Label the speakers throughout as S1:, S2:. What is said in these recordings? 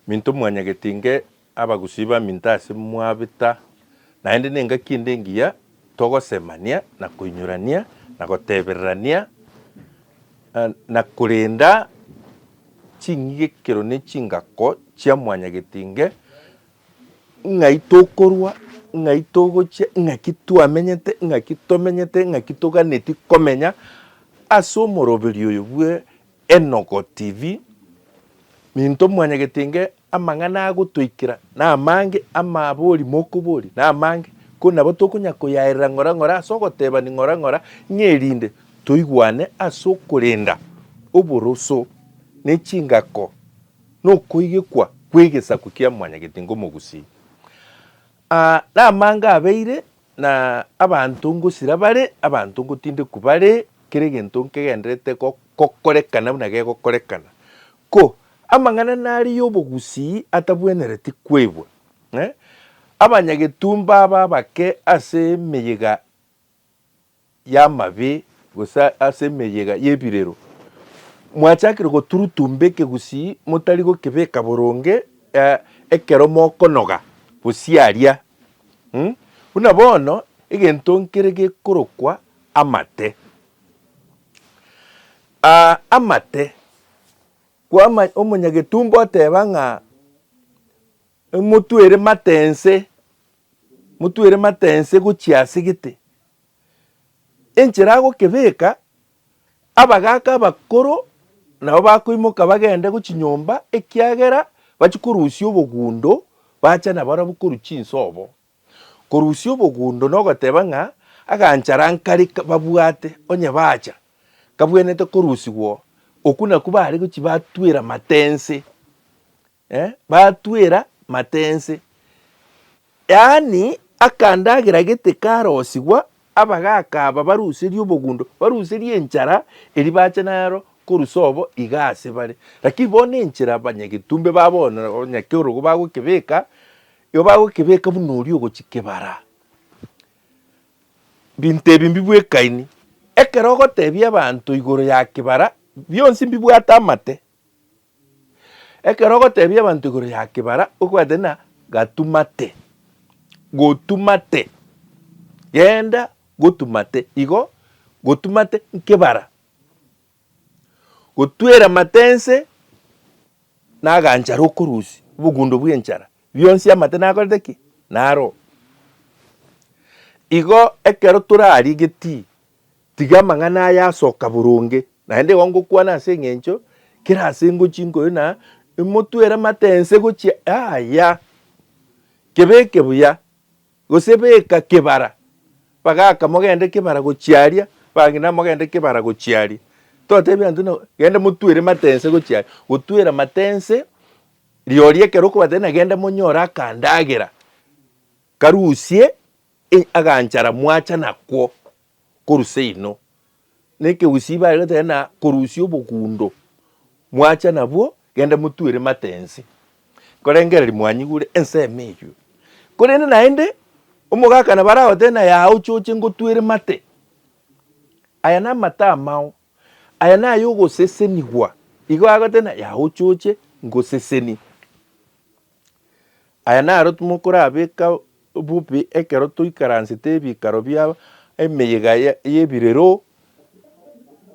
S1: Minto mwanyagete inge abagusii ba minto ase mwabeta, naende nengaki ende engiya togosemania na koinyorania na gotebererania, na korenda ching'igekero ne chingako chia mwanyagete inge, ng'ai tokorwa, ng'ai togochia, ng'aki twamenyete, ng'aki tomenyete, ng'aki toganetie komenya ase omoroberio oyo bwe Enogo TV, Minto mwanyagete inge amang'ana agotoikera namange amabori mokoboria namange, ko nabo tokonya koyaerera ng'ora ng'ora ase ogotebani ng'ora ng'ora ng'a erinde toigwane ase okorenda oboroso ne chingako nokoigekwa kwegesaku kia mwanyagete inge omogusii. Aa namange abeire Na abanto ngosira bare, abanto ngotindekwa bare, kera egento nkegenderete gokorekana buna gegokorekana. Ko, amang'ana nare y'obogusii atabwenereti kwaigwa, eh, abanyagetumba aba abake ase emeyega y'amabe, gose ase emeyega y'ebirero, mwachakire goturutumba ekegusii motari gokebeka boronge ekero mokonoga gosiaria, buna bono egento nkere gekorokwa amate. Amate, omonyagetumba oteba ng'a. Motwere mate ense, motwere mate ense gochia ase gete. Enchera agokebeka, abagaaka abakoro nabo bakoimoka bagende gochia nyomba ekiagera bachie korusia obogundo bache nabarabwo korwa chinsobo. Korusia obogundo nogoteba ng'a aganchara nkari babwate onye bacha kabwenerete korusigwo, okwo nakwo bare gochia batwera mate ense. Batwera mate ense, yaani akandagera gete karosigwa, abagaaka aba baruserie obogundo, baruserie enchara eria bache nero korusa obo iga ase bare. Lakini bono enchera abanyagetumbe ba bono onye kerogo bagokebeka, igo bagokebeka buna oria ogochia kebara. Binto ebi mbibwekaini, ekero ogotebia abanto igoro ya kebara, bionsi mbibwate amate. Ekero ogotebia abanto igoro ya kebara obwate na gatumate, gotumate, genda gotumate igo gotumate nkebara, gotwera amate nse naganchara okorusia obogundo bw'enchara bionsi amate nakorete ki? naroo. Igo ekero torarigetie Tiga amang'ana aya asoka boronge, naende igo ngokwana ase engencho kera ase ngochia inkoyo na imotwere amate ense gochia yaaya. Kebeke buya, gose beka kebara. Bagaka mogende kebara gochia aria, bagenda mogende kebara gochia aria. Tobatebia intwe na gende motwere amate ense gochia aria. Gotwera amate ense rirorio ekero okobatebia na gende monyore akandagera karusie Inye aganchara mwacha nakwo korwa seino, na ekegusii bare goteba na korusia obogundo mwacha nabwo, genda motuere mate ense, nkorengereria mwanyigure ensemo eyio. Korende naende omogaka nabo aragotebe na yao choche ngotuere mate. Aya namate amao, aya nayogosesenigwa. Igo agoteba na yao choche ngoseseni. Aya naro timokorabeka bobe ekero toikaransete ebikaro bia emeyega y'ebirero,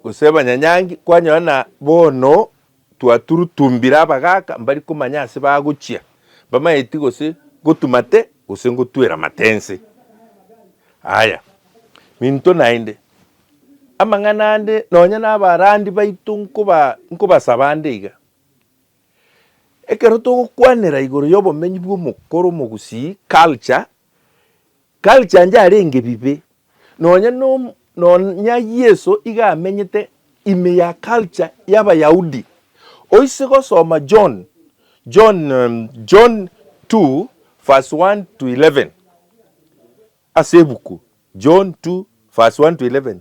S1: gose abanyanyangi, kwanyora na bono twaturutumbire abagaaka mbari komanya ase bagochia, mbamaeti gose ngotumate gose ngotwera amate nse. Aya, minto naende, amang'ana ande nonya nabarandi baito nkoba nkobasaba ande iga, Ekero togokwanera igoro y'obomenyi bw'omokoro omogusii, culture, culture nje arenge bibe, nonya nom nonya Yeso iga amenyete ime ya culture y'Abayahudi. Oise gosoma John, John, John two verse one to eleven. Ase ebuku John 2 verse 1 to 11,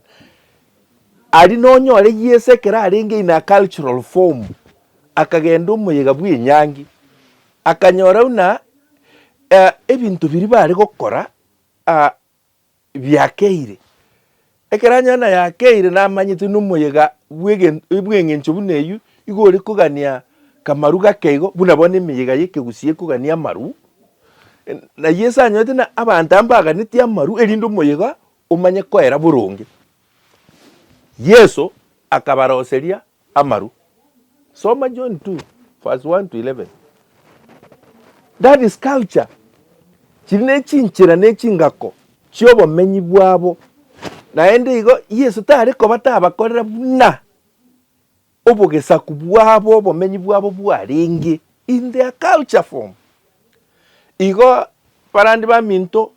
S1: aria nonyore Yeso ekero arenge in a cultural form, akagenda omoyega bw'enyangi, akanyora buna ebinto biria bare gokora biakeire, Ekero Anania nayakeire namanyete nomoyega bw'engencho buna eyio, igo ore kogania kamaru gake igo buna bono emeyega y'ekegusii ekogania amaru, na Yeso anyorete na abanto aa mbaganetie amaru erinde omoyega omanye koera boronge. Yeso akabaroseria Amaru. Soma John 2 verse 1 to 11. That is culture. Chiri nechinchera nechingako chiobomenyi bwabo. Naende igo Yeso tare koba tabakorera buna obogesaku bwabo obomenyi bwabo bwarenge in their culture form. Igo barande baminto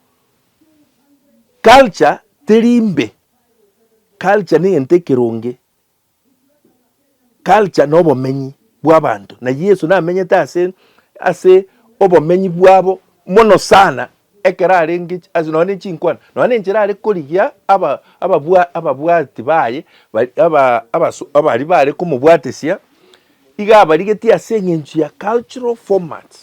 S1: culture teri mbe. Culture negento ekeronge. culture na obomenyi bw'abanto, na Yeso namenyete ase ase obomenyi bwabo mono sana ekero arenge ase nonye ne chinkwana, nonye na enchera are korigia aba ababwa ababwati baye bari aba abaso abari bare komobwatesia, iga abarigetie ase eng'encho ya cultural format,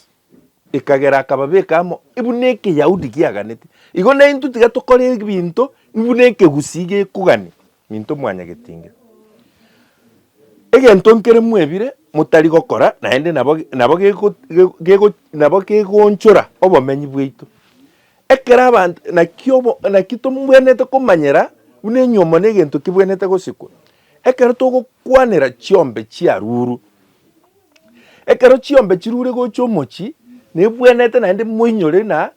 S1: ekagera akababeka amo buna ekeyahudi kiaganete. Igo naintwe tiga tokore ebinto buna ekegusii gekogania. Minto mwanyagetinga. Egento nkere mwebire motari gokora naende nabo nabo gego gego nabo gegoonchora obomenyi bwaito. Ekero abanto naki obo naki tombwenerete komanyera buna enyomo negento kebwenerete gosikwa. Ekero togokwanera chiombe chiarurwe, ekero chiombe chirure gocha omochie, nebwenerete naende moinyore na.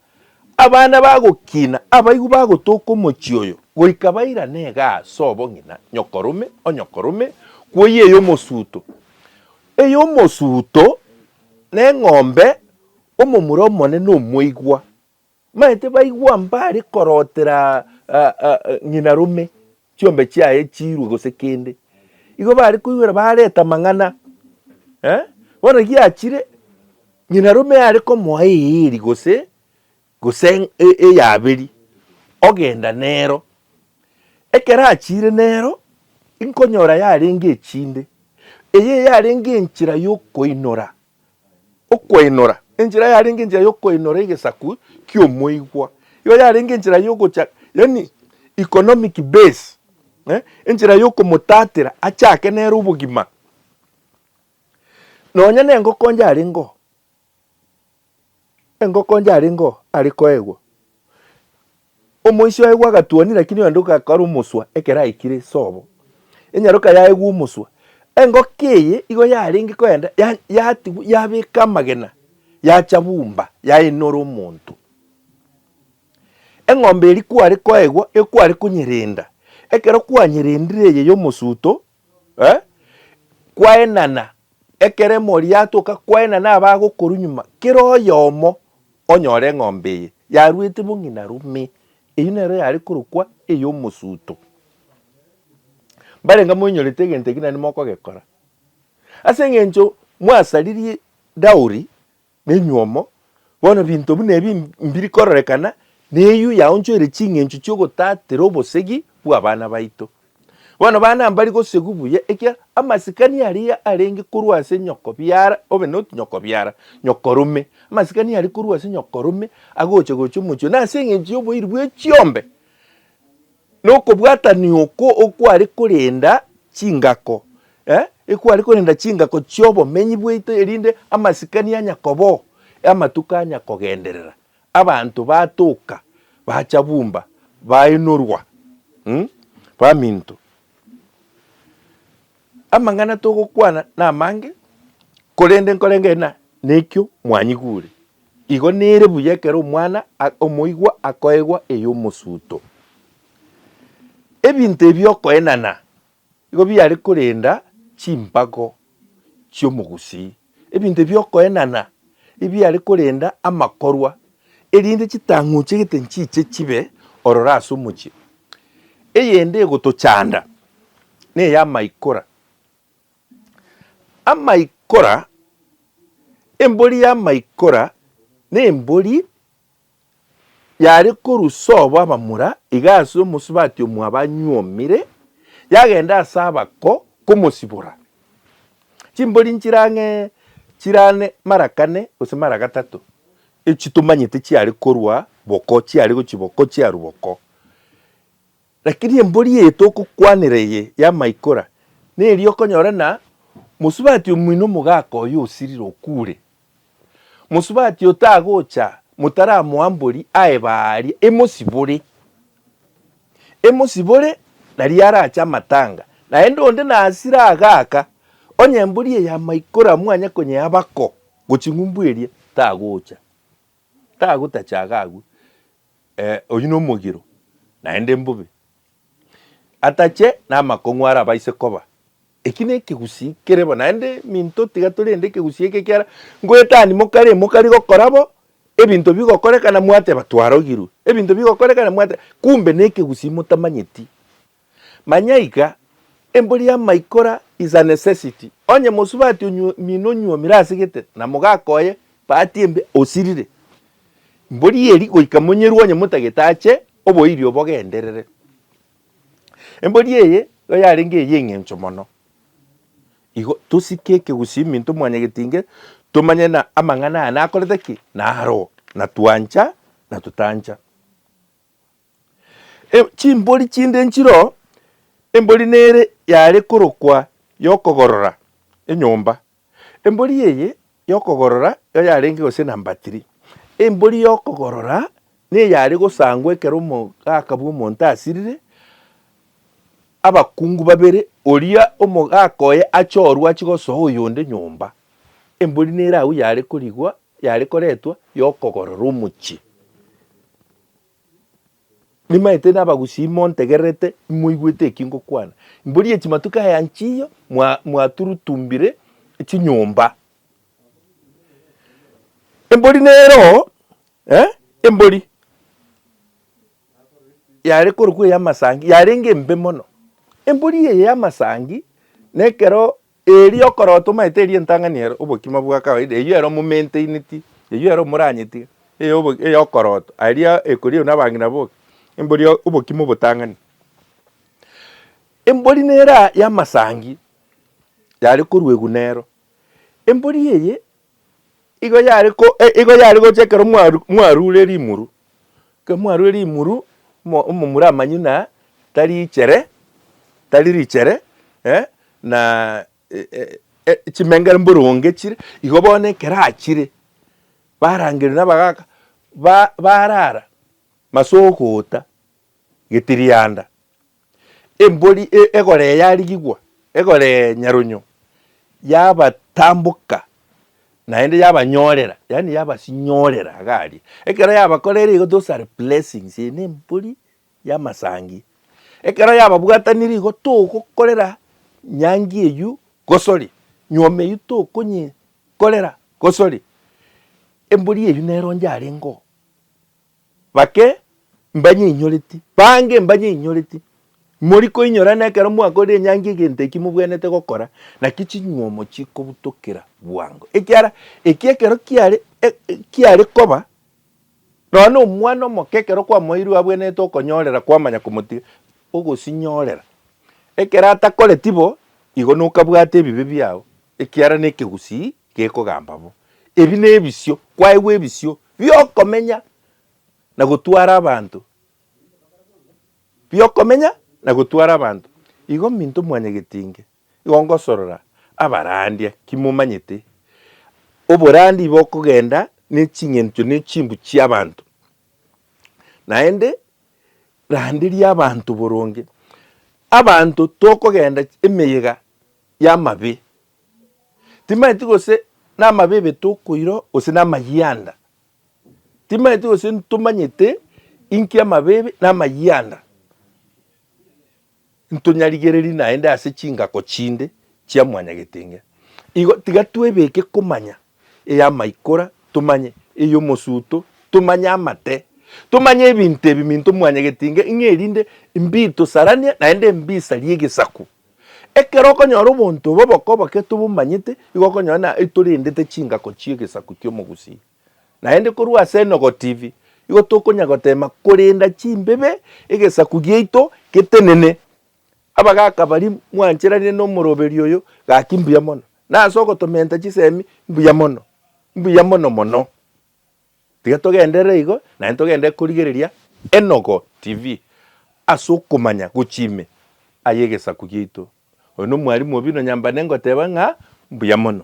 S1: Abana bagokina abaigwa bagotoka omochie oyo, goika bairane iga ase obong'ina, nyokorome o nyokorome, kwoyia eyomosuto eyomosuto, na eng'ombe omomura omone nomoigwa. Maete baigwa mbare korotera ng'ina rome, chiombe chiaye chiirwe gose kende. Igo bare koigwera bareta amang'ana. Eh, bono giachire, nyinarume are komoa eeri gose gose eyaberi ogenda nero. Ekero achiire nero, inkonyora yarenge echinde. Eye yarenge enchera y'okoinora. Okwainora, enchera yarenge enchera y'okoinora egesaku ki'omoigwa, igo yarenge enchera y'ogocha, yaani economic base, enchera y'okomotatera achake nere obogima. Nonya nengoko onde arengeo, engoko onde arengeo are koegwa. Omoisia oegwa agatuoni, lakini oyonde ogakora omoswa ekero aikire sobo. Enyaroka yaegwa omoswa. Engoko eye igo yarenge kogenda ya, yatigwa, yabeka amagena, yacha bumba, yaenora omonto. Eng'ombe eria kware koegwa, nigo kware konyerenda. Ekero kwanyerendire eye y'omosuto, Kwaenana ekero emori yatoka, kwaenana abagokorwa nyuma, kera oyomo onyore eng'ombe eye yaruete bong'ina rume. Eyio nero yare korokwa ey'omosuto. Mbarenge moinyorete egento eki naende mokogekora. Ase eng'encho mwasaririe dowry. Nenywomo, bono binto buna ebi mbiri kororekana neyio yaonchoire ching'encho chi'ogotatera obosegi bw'abana baito. Bono bana mbari gosegwa buya ekiagera amasikani aria arenge korwa ase nyokobiara, obe not nyokobiara, nyokorome, amasikani aria korwa ase nyokorome agocha gocha omochie one ase eng'encho y'oboiri bwe chiombe. Nokobwatania oko okware korenda chingako, eh, ekware korenda chingako chi'obomenyi bwaito, erinde amasikani anya kobao, amatuko anya kogenderera, abanto batoka, bacha bumba, baenorwa, umm, baminto. Amang'ana togokwana namange, korende nkoreng'eria ng'a nekio mwanyigure. Igo nere buya ekero omwana omoigwa akoegwa ey'omosuto. Ebinto ebi okoenana igo biare korenda chimpago chi'omogusii. Ebinto ebi'okoenana ebiare korenda amakorwa, erinde chitang'uchi egete nchiche chibe ororo ase omochie. Eyende egotochanda ney'amaikora. Amaikora, embori y'amaikora nembori Yare korwa sobo abamura, iga ase omosubati omwabo anyuomire, yagenda ase abako komosibora. Chimbori nchirang'e chirane mara kane gose mara gatato, echi tomanyete chiare korwa boko, chiare gochia boko, chiarwa boko. Lakini embori eye togokwanera eye ya Maikora neri okonyora na mosubati omino omogaka oye osirire okure. Mosubati oyo tagocha motaramoa mbori aeba aaria emosibore. Emosibore naria arache amatanga naende onde nasire agaka onye embori eye ya Maikora mwanya konyeaba ko goching'umbu eria tagocha. Tagotacha iga agwo, ee, oyio nomogiro, naende mbobe. Atache namakong'u aria abaise koba. Eki nekegusii kere bo, naende minto tiga torende ekegusii eke ekiara ngoetani mokare mokari gokora bo, ebinto bigokorekana mwateba twarogirwe, ebinto bigokorekana mwateba, kumbe nekegusii motamanyeti Manya iga, embori y'amaikora is a necessity. Onye mosubati omino onyuomire ase gete, na mogaka oye bahati embe osirire, mbori eri goika monyerwe onye motagete ache, oboirio bogenderere. Embori eye igo yarenge ey'engencho mono. Igo tosike ekegusii minto mwanyagetinge tomanye na amang'ana aya nakorete ki? Naro, na twancha na totancha. Chimbori chinde nchiro, embori nere yare korokwa y'okogorora enyomba. Embori eye y'okogorora nigo yarenge gose na mbatiri. Embori y'okogorora nigo yare gosangwa ekero omogaka bw'omonto asirire, abakungu babere, oria omogaka oye achorwe achigosoa oyonde nyomba. Embori nere agwo yare korigwa Yare koretwa y'okogorora omochie. Nimaete nabagusii imontegererete, imoigwete eki ngokwana. Mbori echimatuko aya nchiyo mwaturutumbire chinyomba. Embori nero eh, embori yare korokwa ey'amasangi yarenge embe mono. Embori eye y'amasangi nekero Erio okoroo tomaete eria entang'ani ere obokima bwa kawaida, eyio ero momaintaineti, eyio ero moranyetige, eyobo eyokoroto, aria ekoriagwa nabang'ina boka, embori obokima obotang'ani. Embori nera yamasangi yare koruegwa nero, embori eye Igo yare ko igo yare gocha ekero mwaru mwarure rimuru, ekero mwarure rimuru, mo omomura amanyu na tari ichere, tari richere na chimengere mboronge chire, igo bono ekero achire, barangerwa nabagaka, ba barara mase ogoota, getirianda, embori egoree yarigigwa, egoree nyarunyo yabatamboka naende yabanyorera, yaani yabasinyorera iga aria. Ekero yabakorire igo those are blessings, eye nembori y'amasangi. Ekero yababwatanire igo togokorera nyangi eywo gosori, nyuoma eywo tokonyekorera gosori, embori eywo nero inche arengeo. Bake mbanyeinyoreti, bange mbanyeinyoreti. Mori koinyorana ekero mwakorire enyangi egento eki mobwenerete gokora, naki chinyuomo chikobutokera bwango. Ekiara eki ekero kiare kiare koba, nonya na omwana omoke ekero kwamoeirwe abwenerete okonyorera kwamanya komotiga, ogosinyorera. Ekero atakoreti bo, igo nokabwate ebibe biao, ekiara nekegusii Gekogamba bo, Ebi nebisio kwaigwa ebisio biokomenya na gotwara abanto, biokomenya na gotwara abanto. Igo minto mwanyagetinge, igo ngosorora abarandia, kimomanyete oborandia bokogenda neching'encho ne chimbu chiabanto. Naende randeria abanto boronge, abanto tokogenda emeyega yamabe Timanyeti gose namabibe tokoirwa gose namayianda. Timanyeti gose ntomanyete inki amabibe na amayianda. Ntonyarigereri naende ase chingako chinde chia mwanyagetenge. Igo tiga twebeke komanya eyamaikora, tomanye eyomosuto, tomanye amate, tomanye ebinto ebi minto mwanyagetenge ng'a erinde mbitosarania naende mbisarie egesaku. Ekero okonyora obonto obo bokoboke tobomanyete, igo okonyora na itorendete chingako chi'egesaku ki'omogusii. Naende korwa ase Enogo TV, igo tokonya goteema korenda chimbibe egesaku giaito getenene. Abagaka baria mwancheranire n'omoroberio oyo, gaki mbuya mono. Nase ogotomenta chisemi, mbuya mono. Mbuya mono mono. Tiga togenderere igo, naende togenderere korigereria Enogo TV ase okomanya gochia ime ay'egesaku giaito. Oyo nomwarimu obi nonyambane ngoteba ng'a mbuya mono.